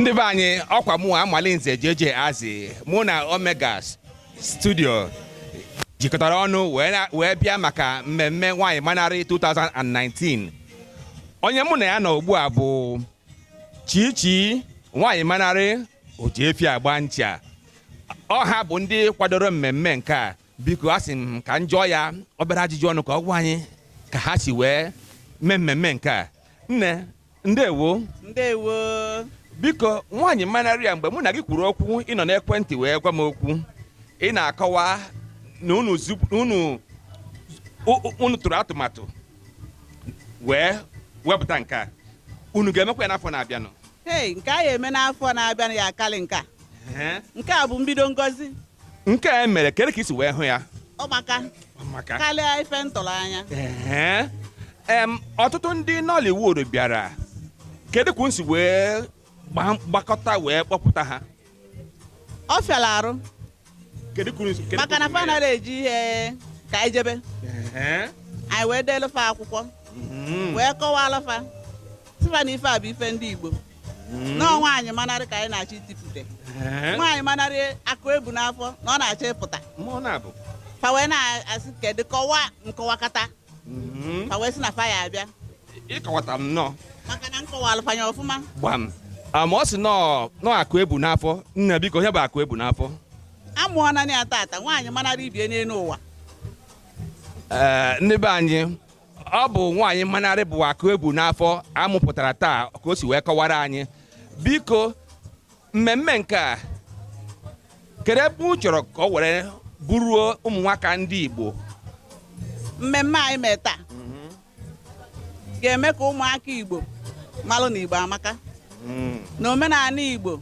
ndị be anyị ọkwa mụ amalinze jeje azi mụ na omega studio jikọtara ọnụ wee bịa maka mmemme nwaanyị manarị 2019 onye mụ na ya nọ ugbu a bụ chichi nwaanyị manarị oji efi agba ncha ọ ha bụ ndị kwadoro mmemme nke a biko a sị m ka m jụọ ya obere ajụjụ ọnụ ka ọ gwa anyị ka ha si wee mee mmemme nke a nne ndewo ndewo biko nwaanyị manaria mgbe mụ na gị kwuru okwu ị nọ n'ekwentị wee gwa m okwu ị na-akọwa na unu tụrụ atụmatụ wee wepụta nke a unu ga-emekwa ya n'afọ na-abịanụ ee nke a ya-eme n'afọ na-abịanụ ya-akarị nke a nke a bụ mbido ngozi nke a mere kedu ka i si wee hụ ya ọ maka maka karịa ife m tụrụ anya Ee. Em, ọtụtụ ndị Nollywood bịara kedu ka unu si wee gba- gbakọta wee kpọpụta ha ọ fịara arụ maka na fa anaghị eji ihe ka anyị jebe mee? Ee. anyị wee deelu fa akwụkwọ Mhm. wee kọwalụ fa sị fa na ife a bụ ife ndị igbo hmm. na nwaanyị manarị ka anyị na-achọ itipụta eh? nwaanyị manarị akụ ebu n'afọ na ọ na-achọ ịpụta fa wee na-asị kedụ kọwa m kọwakata hmm. fa wee sị na fa ya-abịa ịkọwata m nnọọ maka na m kọwalụ fa ya ọfụma gbam ah, ma ọ sị na ọ akụ ebu n'afọ nne biko onye bụ akụ ebu n'afọ a mụọna ya tata nwaanyị manarị ibie n'elu ụwa eh, ndị be anyị ọ bụ nwaanyị manarị bụ akụ ebu n'afọ a mụpụtara taa ka o si wee kọwara anyị biko mmemme nke a kedu ebe unu chọrọ ka ọ were buruo ụmụ nwaka ndị Igbo mmemme anyị mee taa ga-eme ka ụmụaka Igbo malụ na Igbo amaka mm. na omenaanị Igbo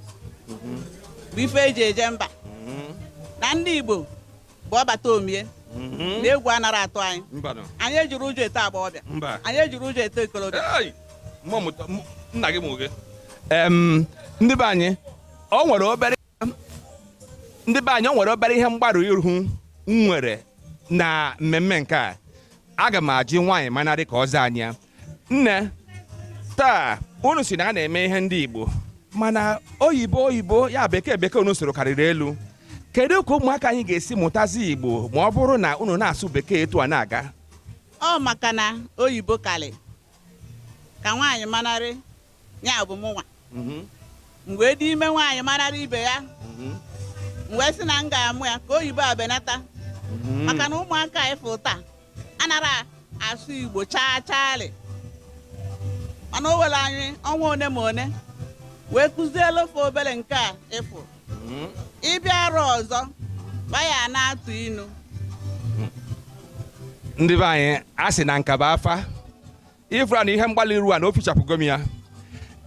bụ ife e ji eje mba mm-hmm. na ndị Igbo bụ ọbata omie mhm. na egwu anara atụ anyị anyị ejirọ ụjọ eto agbọghọbịa anyị ejirọ ụjọ eto okolobịa nna gị nwoke ndị be anyị o nwere obere ihe mgbarụ ihu m nwere na mmemme nke a aga m ajụ nwaanyị manarị ka ọ zaa anyị ya nne taa unu sị na a na-eme ihe ndị igbo mana oyibo oyibo ya bekee bekee unu sụrụ karịrị elu kedu ka ụmụaka anyị ga-esi mụtazi igbo ma ọ bụrụ na unu na-asụ bekee etu a na-aga ọ maka na oyibo kalịka nwaanyị manarị ya bụ mụnwa Mhm. m wee dị ime nwaanyị manarị ibe ya Mhm. m wee sị na m ga-amụ ya ka oyibo benata Mhm. maka na ụmụaka a ị fụ taa anara asụ igbo chaa chaarị mana o were anyị ọnwa one ma one wee kụzielu fa obere nke a ị fụ Mhm. ị bịa arọ ọzọ ba ya na-atụ inu ndị be anyị a sị na nkaba afa ifra na ihe mgbalị iru a na o fichapụgo m ya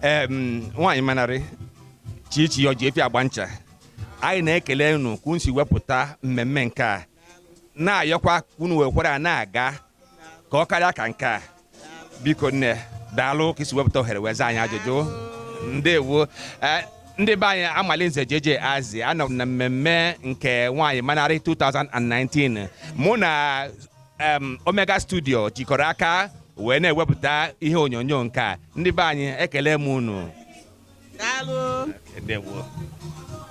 em nwaanyị manarị Chichi ya ọ ji efi agba ncha anyị na-ekele unu ka unu si wepụta mmemme nke a na-ayọkwa ka unu wekwara ya na-aga ka ọ karịa ka nke a biko nne daalụ ka i si wepụta ohere wee zaa anyị ajụjụ ndewo Eh, ndị be anyị Amalinze JJ Azi anọ m na mmemme nke nwaanyị manarị 2019 mụ na Omega Studio jikọrọ aka wee na-ewepụta ihe onyonyo nke a ndị be anyị ekele m unu Daalụ. Ndewo.